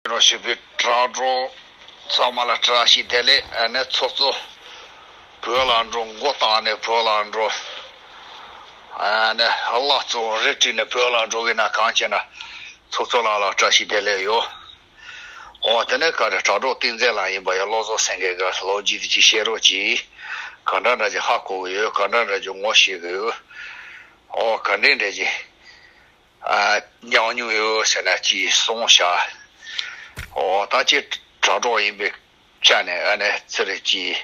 རོ་ཞིག་པའི་བྲག་འགྲོ། ཚང་མ་ལ་བཀྲ་ཤིས་བདེ་ལེགས་ཨ་ནེ་ཚོགས་གཙོ། བོད་ལ་འགྲོ་མགོ་བཏགས་ནས་བོད་ལ་འགྲོ། ཨ་ནེ་བླ་གཙོ་རས་བྲིས་ནས་བོད་ལ་འགྲོ་གི་ན་གང་བྱས་ན། ཚོགས་གཙོ་ལགས་ལ་བཀྲ་ཤིས་བདེ་ལེགས་ཡོ། འོ་དེ་ནས་ཀ་རེ་བྲག་འགྲོ་བསྟིང་མཛད་ལགས་ཡིན་པ་ཡ་བློ་བཟོ་སེང་གེ་ག་ལོ་རྗེས་དེ་ཅིག་བཤད་རོགས་གྱིས། ག་འདྲ་འདྲ་ཅིག་ཧ་གོ་གི་ཡོད་ག་འདྲ་འདྲ་ཅིག་ངོ་ཤེས་གི་ཡོད། འོ་ག་འདྲེ་འདྲེ་ཅིག། ཉང་ཉུང་ཡོད་ཟེར་ན་ཅི་གསུང་བྱ། ད་ཅི་དྲང་གྲོགས་ཡིན་པའི་ཆ་ནས་ཨ་ནེ་ཚེ་རིང་གིས་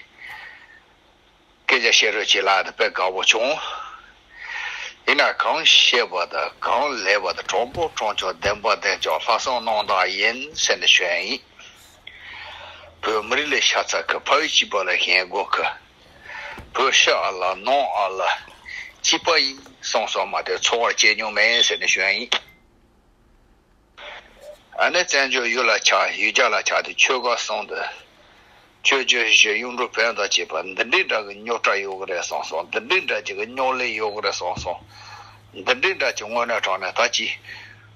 སྐད་ཆ་བཤད་རོལ་བྱེད་ལགས་དཔེ་དགའ་བོ་བྱུང། ཡིན་ན་གང་ཤེས་པ་དང་གང་ལས་པ་དང་གྲོགས་པོ་གྲོང་ཆོག་བདེན་པ་བདེན་ཅོག་ལྷ་སྲུང་གནང་སྟངས་ཡིན་ཟེར་ནས་ཞོན་ཡིན། བོད་མི་རིགས་ལས་ཤ་ཚ་གི་ཕ་ཡུལ་སྐྱིད་པ་ལ་ཞེན་དགོས་ཀི་བོད་ཤ་ཨ་ལ་ནང་ཨ་ལ་སྐྱིད་པ་ཡིན་གསུངས་སོང་མ་དེ་འཚོ་བར་སྐྱེལ་མྱོང་མེད་ཟེར་ནས་ཞོན་ཡིན། ཨ་ནེ་བཙན་བྱོལ་ཡུལ་ལ་ཆགས་ཡུལ་རྒྱ་ལ་ཆགས་ཏེ་ཆོལ་ཁ་གསུངས་འདི་ཆོས་བརྒྱུད་གཞན་གཡུང་དྲུང་བོན་དང་བཅས་པ་འདི་འདྲའི་འདྲ་གི་རྙོག་དྲ་ཡོད་གི་རེད་གསུངས་སོང་འདི་འདྲའི་འདྲ་གི་རྙོག་གླེང་ཡོད་གི་རེད་གསུངས་སོང་འདི་འདྲའི་འདྲ་གི་དངོས་གནས་དྲང་གནས་ད་ཅི།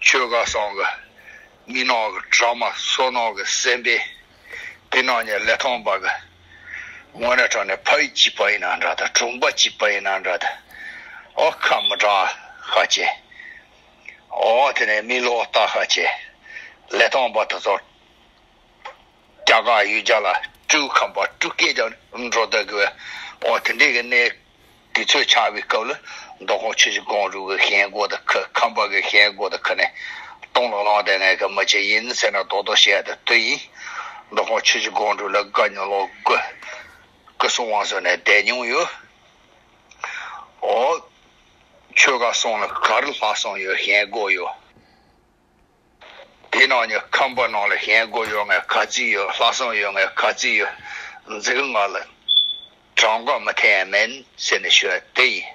ཆོས་གང་གསང་གི་མི་ནག་གི་གྲགས་མ་སོ་ནག་གི་སེམས་པས་དེ་རྣམས་ཀྱི་ལས་ཐོངས་པ་གི་ངོ་ནས་དྲངས་ནས་ཕ་ཡུལ་གཅིག་པ་ཡིན་ན་འདྲ་དང་གྲོང་པ་གཅིག་པ་ཡིན་ན་འདྲ་དེ་ཨོ་ཁ་མི་གྲངས་ཤ་ཆེ་ཨོ་དེ་ནས་མི་ལོ་ལྟ་ཤ་ཆེ་ལས་ཐོངས་པ་དེ་ཚོ་རྒྱ་དགའ་ཡུལ་རྒྱ་ལ་སྤྲུལ་ཁམས་པ་སྤྲུལ་སྐད་ཀྱང་སྒྲོག་བདག་གི་བའོ། དེ་འདྲའི་གནས་དེ་ཚོས་ཆགས་པའི་སྐབས་ལ་མདོ་ཁོང་ཆུ་བཞི་གོང་རུ་གི་ཞལ་སྒོ་དང་ཁུ་ཁམས་པ་གི་ཞལ་སྒོ་དང་ཁུ་ནས་སྟོང་ལ་ལངས་ཏེ་ངའི་གི་མི་ཅི་ཡིན་ཟེར་ན་རྡོག་རྡོག་བཤད་ཡ་དེ་དུས་ཡིན། མདོ་ཁོང་ཆུ་བཞི་གོང་རུ་ལ་དགའ་ཉུང་ལོག་དགུ་སྐུ་གསུང་དབང་ཟུར་ནས་བསྡད་མྱོང་ཡོད། འོ། ཆོས་དགའ་སོང་ལ་གར་ལྷ་སོང་ཡོད་ཞལ་སྒོ་ཡོད། དེའི་ནང་ནས་ཁམས་པ་རྣམས་ལ་གཞན་སྒོ་ཡོད་ངེས་ག་ཚིག་ཡོད་ལྷག་བསམ་ཡོད་ངེས་ག་ཚིག་ཡོད། འཛིན་ལྔ་ལ་གྲངས་ཀ་མི་འཐད་ཡང་མིན་ཟེར་ནས་ཞུ་བ་དེ་ཡིན།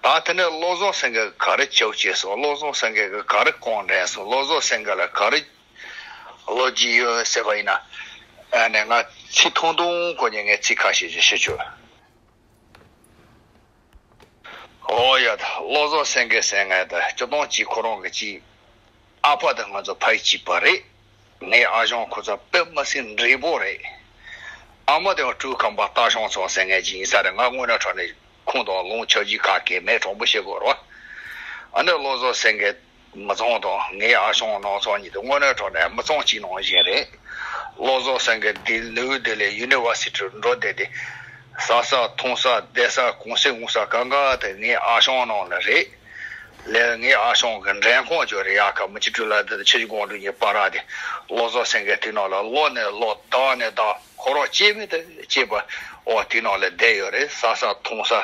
ད་དེ་ནས་བློ་བཟང་སེང་གེ་ག་རེ་བྱའོ་ཅེས་སོ་བློ་བཟང་སེང་གེ་གིས་ག་རེ་བསྐོང་དྲན་སོ་བློ་བཟང་སེང་གེ་ལ་ག་རེ་བློ་སྐྱིད་ཡོད་ཟེར་བ་ཡིན། ཨ་ནི་ང་ཚིག་ཐུང་ཐུང་གོ་ནས་ངས་ཚིག་ཁ་ཤས་ཤིག་ཞུ་ཆོག། ཨོ་ཡ། བློ་བཟང་སེང་གེ་སེང་ངེ་ད་སྤྱི་སྟངས་གཅིག་ཁོ་རང་གི་གཅིག། ཨ་ཕ་དང་ང་ཚོ་ཕ་གཅིག་པ་རེད། ངའི་ཨ་ཞང་ཁོ་ཚོ་པད་མ་སེང་འབྲས་བུ་རེད། ཨ་མ་དེ་བ་སྤྲུལ་ཁང་པ་སྟག་ཞང་ཚང་སེང་ངེ་གཅིག་ཡིན་ས་རེད་ང་དངོས་གནས་ཕྲག་ནས་ཁུངས་དང་ལུང་ཆོས་རྗེས་ཁ་སྐད་མེད་དྲང་པོ་བཤད་དགོས་རོགས། ཨ་ནེ་བློ་བཟང་སེང་གེ། མི་ཚོང་དང་ངའི་ཨ་ཞང་ནང་ཚོང་གཉིས་དུ་དངོས་གནས་གྲོགས་ནས་མི་ཚོང་གཅིག་ནང་བཞིན་རེད། བློ་བཟང་སེང་གེ་འདི་ནིའུ་དེ་ལེ་ཡུ་ནི་བ་སི་ཏི་རུ་འགྲོ་བསྡད་དེ། ཟ་ས་འཐུང་ས་བསྡད་ས་གུང་ཟས་ངུ་ས་གང་ག་དེ་ངའི་ཨ་ཞང་ནང་ནས་རེད། ལེ་ངའི་ཨ་ཞང་གི་འདྲེན་ཁང་ཇོ་རི་ཡ་ཁ་མི་སྤྱི་འཁྲུལ་ལ་དེ་དང་ཆེ་བཞི་དགོང་དྲུག་གཉིས་སྤར་ར་དེ་བློ་བཟང་སེང་གེ་དེ་ནང་ལ་ལོག་ནས་ལོག་བདག་ནས་བདག་ཁོ་རང་སྐྱེས་མེད་དུ་སྐྱེས་པ་འོག་དེ་ནང་ལ་བསྡད་ཡོད་རེད་ཟ་ས་འཐུང་ས།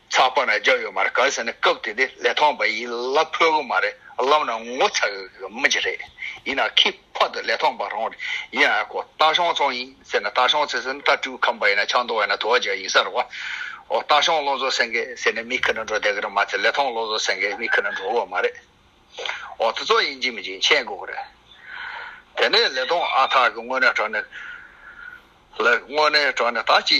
ཚགས་པར་ན་རྒྱ་ཡོད་མ་རེད་ག་ཟེར་ན་སྐབས་དེ་དེ་ལས་ཐོག་འབའ་ཡིས་གླ་ཕོད་གི་མ་རེད་ལབ་ན་ངོ་ཚ་གི་མི་རྒྱ་རེད་ཡིན་ན་ཁི་ཕོ་དེ་ལས་ཐོག་འབའ་རང་རེད་ཡིན་ཨ་ཁོ་རྟ་ཤོང་ཚོང་ཡིན་ཟེར་ན་རྟ་ཤོང་ཚེ་ཟེར་ན་རྟ་དཀྲུག་ཁ་འབའ་ཡིན་ན་ཆང་འཐུང་བ་ཡིན་ན་དུ་བ་རྒྱ་ཡིན་ས་རེད་བ་ཨོ་རྟ་ཤོང་བློ་འཛོ་སེང་གེ་ཟེར་ནས་མི་ཁི་ན་འགྲོ་བསྡད་གི་རེད་མ་ཚད་ལས་ཐོག་བློ་འཛོ་སེང་གེ་མི་ཁི་ན་འགྲོ་གི་མ་རེད་ཨོ་དེ་ཚོ་ཡིན་གྱི་མི་གྱི་མཁྱེན་དགོས་གི་རེད་དེ་ནས་ལས་ཐོག་ཨ་ཐག་གི་དངོས་གནས་དྲང་ནས་ལས་དངོས་གནས་དྲང་ནས་ད་ཅི།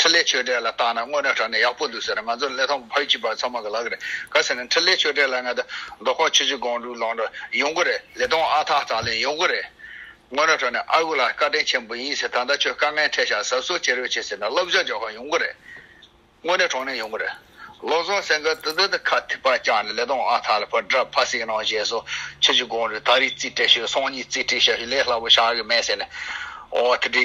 འཕྲིན་ལས་ཆོས་གྲྭའི་ལ་བརྟག་ན་དངོས་གནས་དྲ་གནས་ཡག་པོ་འདུག་ཟེར་ང་ཚོ་ལས་ཐོག་ཕ་ཡུལ་གྱི་བར་ཚང་མ་ག་ལ་གི་རེད་ག་ཟེར་ན་འཕྲིན་ལས་ཆོས་གྲྭའི་ལ་ང་ད་རྡོ་ཁོག་ཆུ་བྱི་སྒང་དྲུག་ལང་འགྲོ་ཡོང་གི་རེད་ལས་སྟོང་ཨ་ཐག་ཐག་ལེན་ཡོང་གི་རེད་དངོས་གནས་དྲ་གནས་ཨ་ཁུ་ལགས་བཀའ་དྲིན་ཆེན་པོ་ཡིན་ཟེར་ད་ལྟ་ཁྱོད་དཀའ་ངལ་འཕྲད་ཤག་ཟབ་གསོ་བྱེད་རོགས་བྱེད་ཟེར་ན་སློབ་སྦྱོང་རྒྱག་ཁག་ཡོང་གི་རེད་དངོས་གནས་གྲོང་ནས་ཡོང་གི་རེད་བློ་བཟང་སེང་གེ་ཏི་ཏི་ཏི་ཁ་ཐིག་པ་བཅག་ནས་ལས་སྟོང་ཨ་ཐག་ལ་ཕར་བསྒྲགས་ཕར་གསེང་གནང་བཞེས་སོ་ཆུ་བྱི་སྒང་དྲུག་ད་རིགས་རྩིས་སྤྲད་ཤོད་སང་ཉིན་རྩིས་སྤྲད་ཤ་ཤོད་ལས་སླ་པོ་ཤག་གི་མེད་ཟེར་ནས་ཨོ་ཐི་ཏི།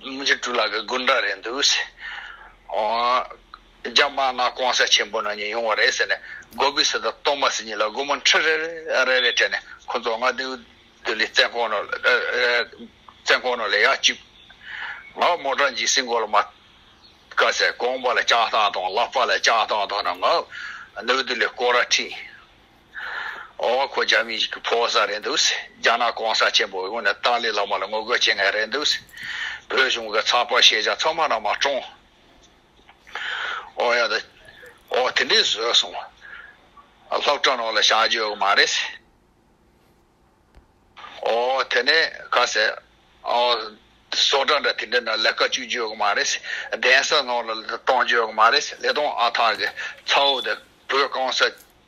མི་འཇིགས་གྲུ་ལ་གི་དགུན་འདྲ་རེད་འདུག་ཟེར། རྒྱ་དམག་ནག་ཀོང་ས་ཆེན་པོ་ནང་ཉིད་ཡོང་བ་རེད་ཟེར་ནས་སྒོ་སྦིས་སུ་དང་སྟོང་མ་སི་གཉིས་ལ་སྒོ་མོ་འཕྲི་རེ་རེ་ལས་དྲན་ནས་ཁོ་ཚོ་ང་དེའུ་དུ་ལི་བཙན་ཁོང་ནོ་བཙན་ཁོང་ནོ་ལས་ཡག་གཅིག་ང་མོ་དྲ་འཇིགས་སིང་གོ་ལ་མ་ཀ་ཟེར་ཀོང་པ་ལ་ལྕགས་ཐང་དང་ལག་པ་ལ་ལྕགས་ཐང་དང་ནང་ང་དེའུ་དུ་ལི་སྐོར་ར་ཁྲིད། ཨོ་ཁོ་རྒྱ་མི་ཞིག་གི་ཕོ་བ་ས་རེད་འདུག་རྒྱ་ནག་གོང་ས་ཆེན་པོ་ཡོང་ནས་ཏཱ་ལའི་བླ་མ་ལ་ངོ་རྒོལ་བྱེད་ངེས་རེད་འདུག་བོད་གཞུང་གི་ཚགས་པར་ཤེས་བྱ་ཚང་མ་ནང་མ་བཀྲོངས། ཨོ་ཡ་ད། ཨོ་དེ་འདྲས་བཟོས་སོང། ལྷག་དྲ་ནང་ལ་བཞག་རྒྱུ་ཡོད་གི་མ་རེད། ཨོ་དེ་ནས་ག་ཟེ། ཨོ། བཟོ་གྲ་འདྲ་དེ་འདྲས་ནང་ལས་ཀ་བཅུག་རྒྱུ་ཡོད་གི་མ་རེད། གདན་ས་ནང་ལ་གཏོང་རྒྱུ་ཡོད་གི་མ་རེད། ལེ་སྟོང་ཨ་ཐག་གི་ཚ་བོ་དེ་བོད་གང་ས་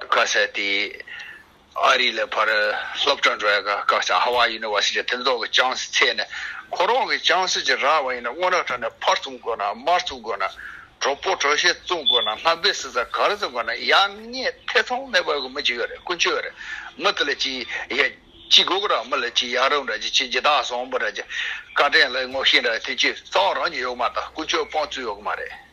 བཀའ་སྩལ་ཏེ། ཨ་རི་ལ་ཕར་སློབ་གྲྭ་འགྲོ་ཡ་ག་སྐབས་སུ་ཧ་ཝཱ་ཡི་ནི་ཝཱ་སི་ཅི་ཐེམ་ཐོག་གི་ཅང་སི་ཚད་ནས་ཁོ་རང་གི་ཅང་སི་ཅི་རག་བ་ཡིན་ན་སྔོན་རག་ཁྲ་ནས་ཕར་བཙུགས་དགོས་ན་མར་བཙུགས་དགོས་ན་གྲོ་པོ་གྲོ་ཞེ་བཙུགས་དགོས་ན་ལྷམ་བེ་སི་ས་གར་བཙུགས་དགོས་ན་ཡག་ཉེས་ཐེ་ཚོམ་མེད་པར་གི་མི་གཅིག་ཡོད་རེད་ཀུན་སྤྱོད་རེད་མི་དེ་ལ་ཅི་ཡག་ཅི་དགོས་གི་རག་མི་ལ་ཅི་ཡག་རག་འདྲ་ཅི་ཅི་ཇི་དག་བཟང་པོ་རག་ཅི་བཀའ་དྲན་ལ་ངོ་ཤེས་འདྲ་དེ་ཅི་གཙང་རང་གི་ཡོད་མ་ད་ཀུན་སྤྱོད་སྤང་རྩོད་ཡོད་གི་མ་རེད།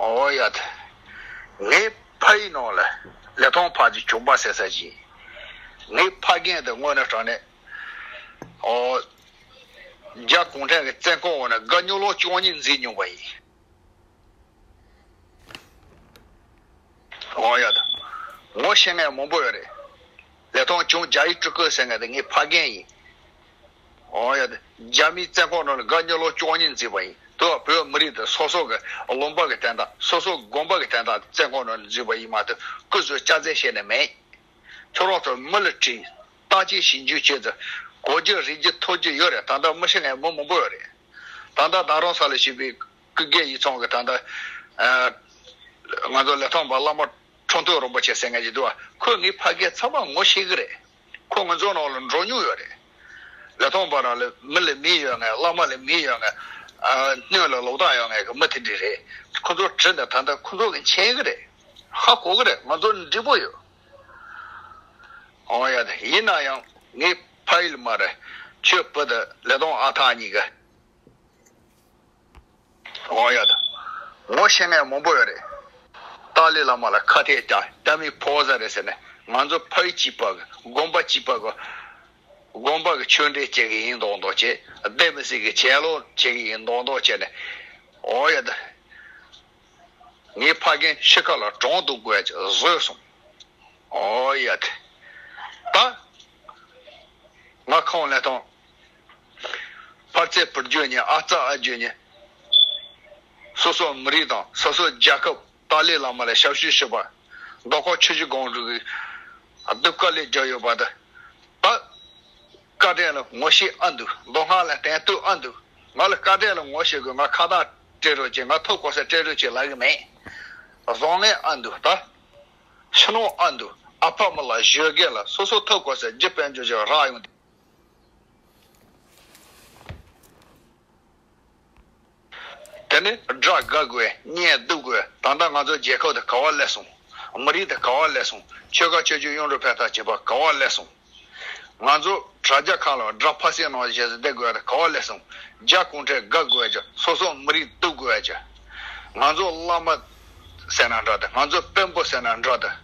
ཨོ་ཡ་ཐ། ངའི་ཕ་ཡི་ནང་ལ་ལེ་ཐང་ཕག་གི་གྱོང་པ་སེལ་ས་ཅི། ངའི་ཕ་རྒན་དེ་དངོས་ནས་དྲང་ནས། ཨོ། རྒྱ་གུང་ཁྲན་གྱི་བཙན་ཁང་འོག་ན་དགའ་སྙོ་ལོག་ཅུང་ཉིན་འཛིན་མྱོང་པ་ཡིན། ཨོ་ཡ་ཐ། ངོ་ཤེས་མཁན་མང་པོ་ཡོད་རེད། ལེ་ཐང་ཅུང་རྒྱ་ཡིག་སྤྲུལ་སྐུ་ཟེར་མཁན་དེ་ངའི་ཕ་རྒན་ཡིན། རྒྱ་མིའི་བཙན་འཁོར་ནང་ལ་དགའ་ཉེ་ལོ་བཅོ་ལྔ་འཛིན་པ་ཡིན། དེ་བས་བོད་མི་རིགས་དེ་སོ་སོ་གི་ལུང་པ་གི་བསྟན་དང་སོ་སོ་གི་དགོངས་པ་གི་བསྟན་དང་བཙན་འཁོར་ནང་ལ་འཛུལ་བ་ཡིན་མ་གཏོགས་སྐུ་གཟུགས་སྐྱ་རྫས་བཤད་ནི་མེད། ཁྱོད་རང་ཚོ་མི་ལ་དྲིས། བརྟག་དཔྱད་ཞིབ་འཇུག་བྱས་ཚེ། གོ་རྒྱུ་རིག་རྒྱུ་ཐོས་རྒྱུ་ཡོད་རེད་ད་ལྟ་མི་ཤི་ནས་མི་མང་པོ་ཡོད་རེད། ད་ལྟ་རྡ་རམ་ས་ལ་ཞུས་པའི་སྐུ་སྒེར་ཡིག་ཚང་གི་ད་ལྟ་ང་ཚོ་ལས་ཐོག་པ་བླ་མ་ཁྲོ་འདུལ་རིན་པོ་ཆེ་ཟེར་མཁན་ཞིག་འདུག་བ་ཁོས་ངའི་ཕ་སྐད་ཚང་མ་ངོ་ཤེས་གི་རེད། ཁོ་ང་ཚོ་ནང་ལ་འགྲོ་མྱོང་ཡོད་རེད། ལས་ཐོག་འབའ་རང་ལས་མི་ལས་མི་ཡོད་ངེས་བླ་མ་ལས་མི་ཡོད་ངེས། སྣོད་ལ་ལོག་ལྟ་ཡོད་ངེས་ཀྱི་མི་དེ་འདྲས་རེད། ཁོ་ཚོར་དྲིས་ན་ད་ལྟ་ཁོ་ཚོ་གི་མཁྱེན་གི་རེད། ཧ་གོ་གི་རེད་ང་ཚོ་ནི་འགྲིག་པོ་ཡོད། ཡ་དེ་ཡིན་ན་ཡང་ངའི་ཕ་ཡུལ་མ་རེད། ཁྱོད་བུ་དང་ལས་ཐོག་ཨ་ཐག་གཉིས་ཀ། ཨོ་ཡ་ད། ངོ་ཤེས་མཁན་མང་པོ་ཡོད་རེད། ཏཱ་ལའི་བླ་མ་ལ་ཁ་གཏད་རྒྱག་རྒྱ་མི་ཕོ་བཟའ་རེད་ཟེར་ནས་ང་ཚོ་ཕ་ཡུལ་སྤྱི་པ་གི་དགོན་པ་སྤྱི་པ་གི་དགོན་པ་གི་ཆོས་འབྲེལ་བྱེད་གི་ཡིན་མདོག་མདོག་བྱེད་བདེ་མི་སྲིད་གི་བྱེད་ལོག་བྱེད་གི་ཡིན་མདོག་མདོག་བྱེད་ནས་ཨོ་ཡ་ད། ངའི་ཕ་རྒན་ཤི་ཁ་ལ་གྲོང་དུ་བགོས་ཀྱི་བཟོས་སོང། ཨོ་ཡ་ད། ད། ང་ཁང་ལས་ཐོན། ཕར་ཚད་བུར་བརྗོད་ནས་ཨ་རྩ་ཨ་བརྗོད་ནས། སོ་སོ་མི་རིགས་དང་སོ་སོ་རྒྱལ་ཁབ་ཏཱ་ལའི་བླ་མ་ལ་ཞབས་ཞུ་ཞུས་པ། རྡོ་ཁོག་ཆུ་བཞི་སྒང་དྲུག་གི་སྡུག་དཀའ་ལས་རྒྱག་ཡོད་པ་དང། ད་བཀའ་དྲིན་ལ་ངོ་ཤེས་ཨ་འདུག་མདོ་སྔགས་ལ་དན་བསྟོད་ཨ་འདུག་ང་ལ་བཀའ་དྲིན་ལ་ངོ་ཤེས་དགོས་ང་ཁ་གདངས་སྤྲད་རོགས་ཀྱིས་ང་ཐོག་གོ་ས་སྤྲད་རོགས་ཀྱིས་ལབ་ཡི་མེད། བཟང་ངན་ཨ་འདུག་ད་ཕྱི་ནང་ཨ་འདུག་ཨ་ཕ་མ་ལ་བཞོས་དགེ་ལ་སོ་སོ་ཐོག་གོ་ས་རྒྱུ་དཔལ་འབྱོར་ཅིག་རག་ཡོང་དུས། དེ་ནི་སྒྲ་དགག་དགོས་བརྙན་བསྡུ་དགོས་ད་ལྟ་ང་ཚོ་རྒྱལ་ཁབ་དེ་ག་བ་ཀླད་སོང། མི་རིགས་དེ་ག་བ་ཀླད་སོང་ཆོལ་ཁ་ཆོས་བརྒྱུད་གཡུང་དྲུང་ཕལ་ཐག་བྱས་པ་ག་བ་ཀླད་སོང། ང་ཚོ་དྲ་རྒྱ་ཁག་ལ་སྒྲ་ཕ་སེ་ནོར་བྱེད་བསྡད་དགོས་དེ་ག་བ་ཀླད་སོང། རྒྱ་གུང་ཁྲན་དགག་དགོས་ཀྱི་སོ་སོ་མི་རིགས་བསྡུ་དགོས་ཀྱི། ང་ཚོ་བླ་མ་ཟེར་ན་འདྲ་དེ་ང་ཚོ་དཔོན་པོ་ཟེར་ན་འདྲ་དེ།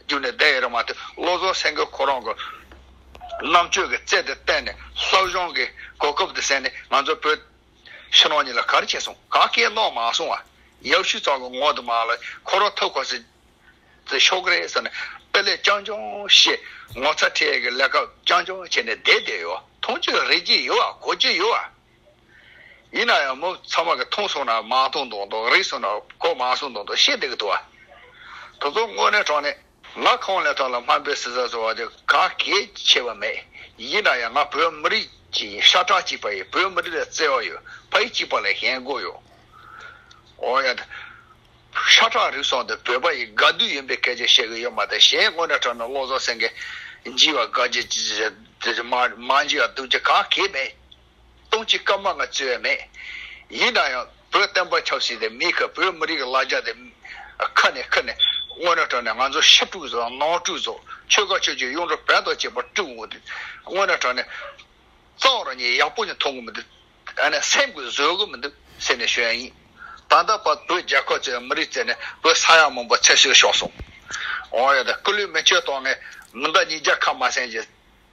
བསྒྱུར་ནས་བསྡད་ཡོད་རེད་མ་གཏོགས་བློ་བཟང་སེང་གེ་ཁོ་རང་གི་རྣམ་དཔྱོད་ཀྱི་རྩལ་དེ་བརྟེན་ནས་བསླབ་སྦྱོང་གི་གོ་སྐབས་དེ་བསད་ནས་ང་ཚོ་བོད་ཕྱི་ནང་གཉིས་ལ་ག་རེ་བྱས་སོང་ག་སྐད་ནོག་མ་སོང་བ་ཡབ་ཤུལ་ཚང་གི་ངོ་དེ་མ་ལ་ཁོ་རང་ཐུག་ཁོ་སི་ཏི་ཤོག་གི་རེད་ཟེར་ནས་དཔེ་ལེགས་རྐྱང་རྐྱང་ཤེས་ངོ་ཚ་ཁྲལ་གི་ལས་ཀ་རྐྱང་རྐྱང་བྱས་ནས་བསྡད་བསྡད་ཡོད་ཐོང་ཅི་རེད་ཀྱི་ཡོད་གོ་ཀྱི་ཡོད། ཡིན་ན་ཡང་མོ་ཚང་མ་གི་མཐོང་སོང་ན་མ་མཐོང་དོང་དོང་རིག་སོང་ན་གོ་མ་སོང་དོང་དོང་ཤེས་འདི་གི་དུ་བ། དོ་དོ་དངོས་གནས་དྲང་གནས། ང་ཁོང་ལས་ཐོག་ལ་སྨན་པའི་སྲི་ཟ་ཟོ་བ་དེ་ག་གེ་ཆེ་བ་མེད་ཡིན་ན་ཡང་ང་བོད་མི་རིགས་ཀྱི་ཤ་ཁྲག་གཅིག་པ་ཡི་བོད་མི་རིགས་ལ་བརྩེ་བ་ཡོད་ཕ་ཡི་གཅིག་པ་ལས་གཞན་དགོས་ཡོད་འོ་ཡ། ཤ་ཁྲག་རིག་སོང་དེ་བོད་པ་ཡི་དགའ་སྡུག་ཡིན་པའི་སྐད་ཆ་བཤད་གི་ཡོད་མ་ད་གཞན་དངོས་གནས་དྲང་གནས་བློ་བཟང་སེང་གེ་འཇིགས་བ་དགའ་སྐྱིད་མ་འཇིགས་བ་སྡུག་སྐྱིད་ག་གེ་མེད་སྟོང་གཅིག་སྐར་མ་ལྔ་བརྩི་བས་མེད། ཡིན་ན་ཡང་བོད་བསྟན་པ་ཆབ་སྲིད་དེ་མིའི་ཁ་བོད་མི་རིགས་ཀྱི་ལ་རྒྱ་དེ་ཁ་ནས་ཁུར་ནས་དངོས་གནས་དྲང་ནས་ང་ཚོ་ཤ་དཀྲུགས་སོ་ནང་དཀྲུགས་སོ་ཆོལ་ཁ་ཆོས་ཀྱི་གཡུང་དྲུང་བོན་དང་བཅས་པ་དཀྲུགས་འོང་དུས་དངོས་གནས་དྲང་ནས་རྩ་བ་རང་ཉིད་ཡག་པོ་ཞིག་མཐོང་གི་མི་འདུག་ཨ་ནས་སེམས་ཀྱི་བཟོད་གི་མི་འདུག་ཟེར་ནས་ཞུ་ཡ་ཡིན། ད་ལྟ་བར་བོད་རྒྱལ་ཁབ་ཅེས་མི་རིགས་བཙལ་ནས་བོད་ས་ཡ་མང་པོ་ཚད་ཤོས་ཤོར་སོང། འོང་ཡ་དང་སྐུ་ལུས་མི་ཆོད་གཏོང་ནས་མི་འདའ་ཉིས་བརྒྱ་ཁ་མ་སེང་ཅེས།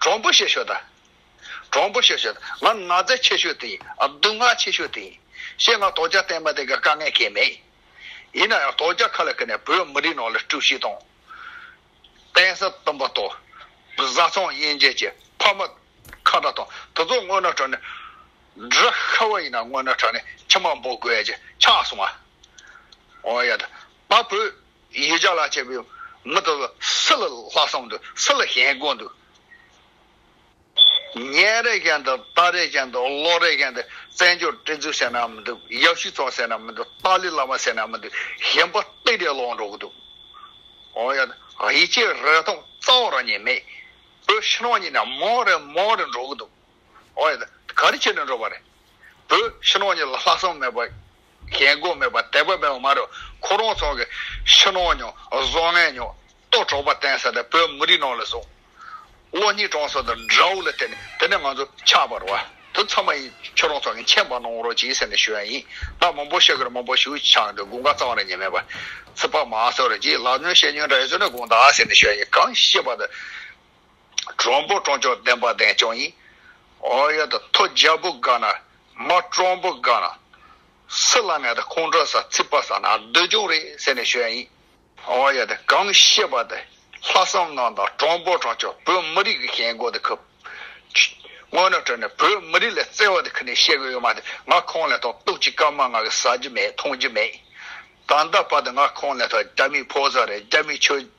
གྲོང་པོ་ཞེས་ཤོད། གྲོང་པོ་ཞེས་ཤོད། ང་ནག་རྫས་ཆེ་ཤོས་དེ་ཡིན། སྡུག་བསྔལ་ཆེ་ཤོས་དེ་ཡིན། ཞེས་ང་དོལ་རྒྱལ་བསྟན་པ་དེ་ག་དཀའ་ངལ་སྐྱེས་མེད། ཡིན་ན་ཡང་དོལ་རྒྱལ་ཁ་ལ་ཁུར་ནས་བོད་མི་རིགས་ནང་ལ་དཀྲུགས་ཤིང་དང། བསྟན་ས་བཏུམ་པ་དང། བཟའ་ཚང་དབྱེ་འབྱེད་ཀྱིས་ཕ་མ་ཁ་བརྡ་དང་དེ་ཚོ་སྔོན་ན་དྲག་ནས། འདྲ་ཤ་བ་ཡིན་ན་སྔོན་ན་དྲག་ནས་ཁྱི་མང་པོ་དགོས་ཀྱི་ཆགས་སོང་ང། ཨོ་ཡ་ད། ད་བོད་ཡིད་ཅག་ལ་བྱས་པའི་མི་དེ་ལ་སུ་ལ་ལྷག་བསམ་འདུག་སུ་ལ་ཞེན་དགོས་འདུག། ཉན་རེ་ཞེན་འདུག་ལྟ་རེ་ཞེན་འདུག་ཀློག་རེ་ཞེན་འདུག་བཙན་བྱོལ་སྤྲིན་ཚུགས་ཟེར་ནའང་མི་འདུག་ཡབ་གཞིས་ཚོགས་ཟེར་ནའང་མི་འདུག་ཏཱ་ལའི་བླ་མ་ཟེར་ནའང་མི་འདུག་ཞེན་པ་སྟེ་དེ་ལོག་འགྲོ་གི་འདུག་ཨོ་ཡ། ཡིད་ཆེས་རེ་ཐོབ་རྩ་བ་རང་ཉིད་མེད། བོད་ཕྱི་ནང་གཉིས་ན་མང་རེ་མང་རེ་འགྲོ་གི་འདུག་ཨོ་ཡ། ག་རེ་བྱས་ནས་འགྲོ་བ་རེད། བོད་ཕྱི་ནང་གཉིས་ལ་ལྷག་བསམ་མེད་པ། རྒྱལ་སྒོ་མེད་པར་དད་པ་མེད་པ་མ་རུ་ཁོ་རང་ཚང་གི་ཕྱི་ནང་མྱོང་བཟོ་ངན་མྱོང་རྟོག་གྲོགས་པ་བསྟན་ས་དེ་བོད་མི་རིགས་ནང་ལ་བཟུང་བློ་གཉིས་དྲང་སྲོང་དང་དགྲ་བོ་ལ་བསྟེན་ནས་དེ་ནས་ང་ཚོ་ཆགས་པར་བ་དེ་ཚང་མ་ཡིན་ཁྱོད་རང་ཚང་གི་མཁྱེན་པ་གནང་རོགས་གྱིས་ཟེར་ནས་ཞུ་ཡ་ཡིན་ད་མང་པོ་ཤེས་དགོས་རེད་མང་པོ་ཞུ་ཆགས་འདུག་དགུང་ཁ་གཙང་རེད་ཉེས་མེད་པ་ཚིག་པ་མ་གསོད་རོགས་གྱིས་ལག་ཉོན་ཤེས་ཉོན་འདྲ་ཡོད་ཚོད་ནས་དགོངས་དག་ཟེར་ནས་ཞུ་ཡ་ཡིན་གང་ཤེས་པ་དང། དྲོན་པོ་དྲོན་ཆུང་བདེན་པ་བདེན་ཆུང་ཡིན། ཨོ་ཡ་ད་ཐོ་རྒྱལ་པོ་དགའ་ན་མ་དྲོན་པོ་དགའ་ན། སི་ལ་ངས་ད་ཁོང་ཁྲོ་ས་ཚིག་པ་ས་ན་སྡོད་ཀྱོང་རེད་ཟེར་ནས་ཤོད་ཡིན། ཨོ་ཡ་ད་གང་ཤེས་པ་ད་ལྷ་བསམ་གནང་དང་དྲོན་པོ་དྲོན་ཆུང་བོད་མི་རིགས་ཀྱི་ཞེན་གོ་ད་ཁུ། སྔོན་ནས་ཁྲོས་ནས་བོད་མི་རིགས་ལ་བརྩེ་བ་ད་ཁུ་ནས་བཤད་གི་ཡོད་མ་ད་ང་ཁོང་ལ་ཐོང་གཏུག་ཅིག་སྐར་མ་ང་གི་ཟ་རྒྱུ་མེད་འཐུང་རྒྱུ་མེད། ད་ལྟ་བར་ད་ང་ཁོང་ལ་ཐོ་རྒྱ་མིའི་ཕོ་གསར་རེད་རྒྱ་མིའི་ཆོས།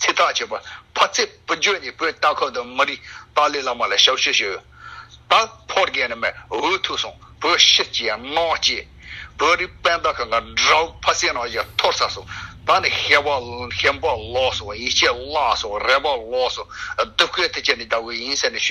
ཚེ་ཐག་བཅད་པ། ཕ་ཚེ་བུ་འགྱོད་ནས་བོད་རྟ་ཁོག་དང་མི་རིགས་ཏཱ་ལའི་བླ་མ་ལ་ཞབས་ཞུ་ཞུ། ད་ཕོ་རྒན་རྣམས་འུ་ཐུག་སོང་བོད་ཕྱིར་གྱིས་ཡང་སྔངས་སྐྱེས། བོད་རིགས་དཔལ་རྟ་ཁ་ང་དགྲ་བོ་ཕ་སའི་ནང་བཞག་ཐོར་ཚ་སོང་ད་ནི་ཧེ་བག་ཧེ་འབག་ལོག་སོང་ཡིད་ཆད་བརླག་སོང་རེ་བག་ལོག་སོང་སྡུག་སྐད་དེ་ཅི་ནས་བདའ་དགོས་ཡིན་ཟེར་ནས་ཞུ།